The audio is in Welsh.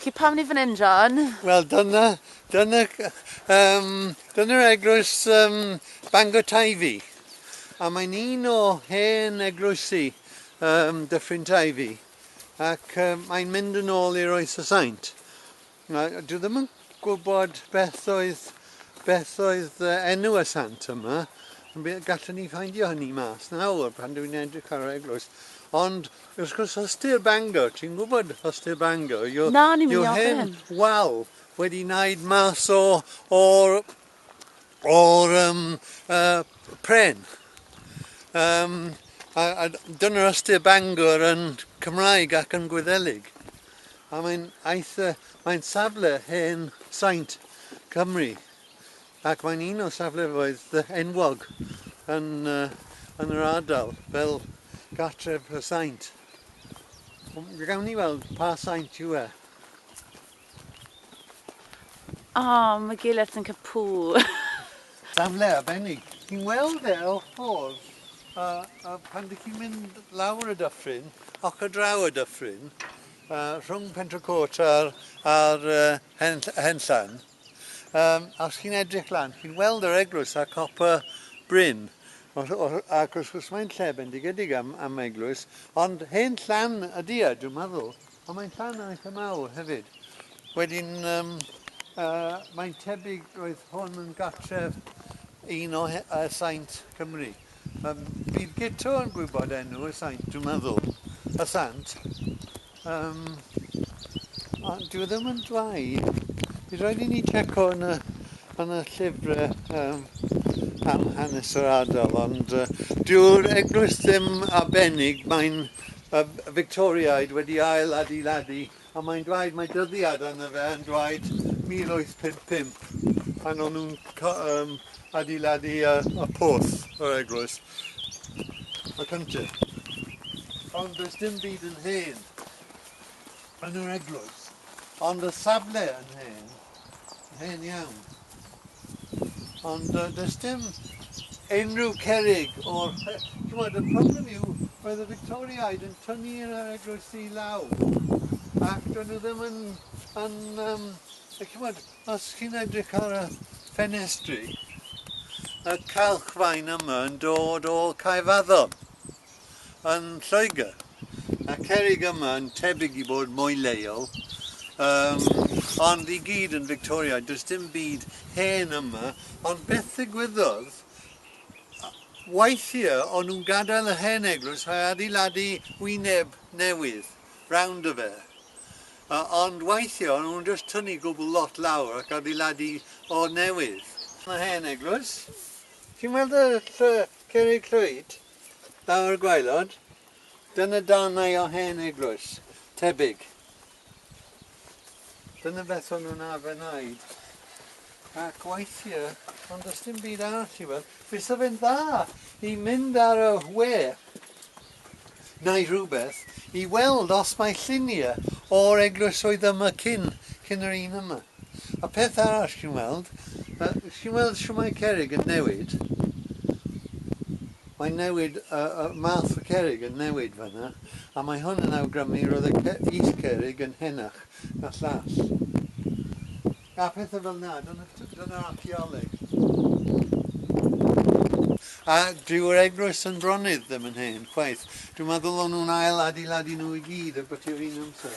Felly pam ni fan hyn, John? Wel dyna, dyna, um, dyna'r eglwys um, Bangor Taifi. A mae'n un o hen eglwysi um, Dyffryn Taifi. Ac um, mae'n mynd yn ôl i'r oes y saint. Na, dwi ddim yn gwybod beth oedd, beth oedd uh, enw y sant yma. Gallwn ni ffeindio hynny mas nawr pan dwi'n edrych ar yr eglwys. Ond, wrth gwrs, Hostir Bangor, ti'n gwybod Hostir Bangor? Yw, Na, ni'n mynd i ofyn. Wal wedi wneud mas o, o'r o'r um, uh, pren. Um, a, a dyna'r ystyr Bangor yn Cymraeg ac yn Gwyddelig. A mae'n eitha, mae'n safle hen saint Cymru ac mae'n un o saflefoedd enwog yn, uh, yn yr ardal fel gartref y saint. Gawn ni weld pa saint yw e. O, mae Gilert yn cael pŵ! Safle arbennig. Ti'n weld e o'r ffordd, a a pan dych chi'n mynd lawr y dyffryn, ac ar draw y dyffryn, yy rhwng Pentre Côt a'r a'r yy hen ll- hen llan, yym a os chi'n edrych lan, chi'n weld yr eglwys a cop y bryn. O rh- o rh- ac wrth gwrs mae'n lle bendigedig am am eglwys, ond hen llan ydy e, dwi'n meddwl. Ond mae'n rhan yn eitha mawr hefyd. Wedyn, um, uh, mae'n tebyg roedd hwn yn gartref un o uh, saint Cymru. Um, bydd Gito yn gwybod enw y saint, dwi'n meddwl. Y sant. Um, a dwi e ddim yn dwau. Bydd rhaid i ni checo yn y, yn y llyfrau um, am hanes yr ardal, ond uh, dyw'r eglwys ddim arbennig, mae'n Fictoriaid wedi ail adeiladu a mae'n dweud, mae dyddiad arno fe yn dweud 1855 pan o'n nhw'n adeiladu y porth yr eglwys, y cyntaf. Ond does dim byd yn hen yn yr eglwys, ond y safle yn hen. Hen iawn. Ond yy does dim unrhyw cerrig o'r yy t'mod y problem yw roedd y Victoriaid yn tynnu yr yy eglwysi i law ac do'n nw ddim yn yn yym yy c'mod os chi'n edrych ar y ffenestri y calchfaen yma yn dod o Caerfaddon. yn Lloegr. Mae'r cerrig yma yn tebyg i fod mwy leol, um, ond i gyd yn Victoriaidd, does dim byd hen yma, ond beth ddigwyddodd weithiau o'n nhw'n gadael y hen eglwys a adeiladu wyneb newydd round y fe. Uh, ond weithiau o'n nhw'n just tynnu gwbl lot lawr ac adeiladu o newydd. Mae hen eglwys. Ti'n weld y llwy, cerig llwyd? Daw'r gwaelod. Dyna darnau o hen eglwys, tebyg. Dyna beth o'n nhw'n arfer wneud. Ac weithiau, ond does dim byd arall i weld, fysa fe'n dda i mynd ar y we neu rhywbeth i weld os mae lluniau o'r eglwysoedd yma cyn, cyn yr un yma. A peth arall chi'n weld, chi'n weld shwt mae cerrig yn newid? Mae'n newid, y math o cerrig yn newid fan'na, a mae hwn yn awgrymu roedd y is-cerrig yn henach na llall. A pethau fel 'na, dyna'r archaeoleg. A dyw'r eglwys yn Bronydd ddim yn hen, chwaith. Dwi'n meddwl o'n nhw'n ail-adeiladu nhw i gyd ar biti'r un amser.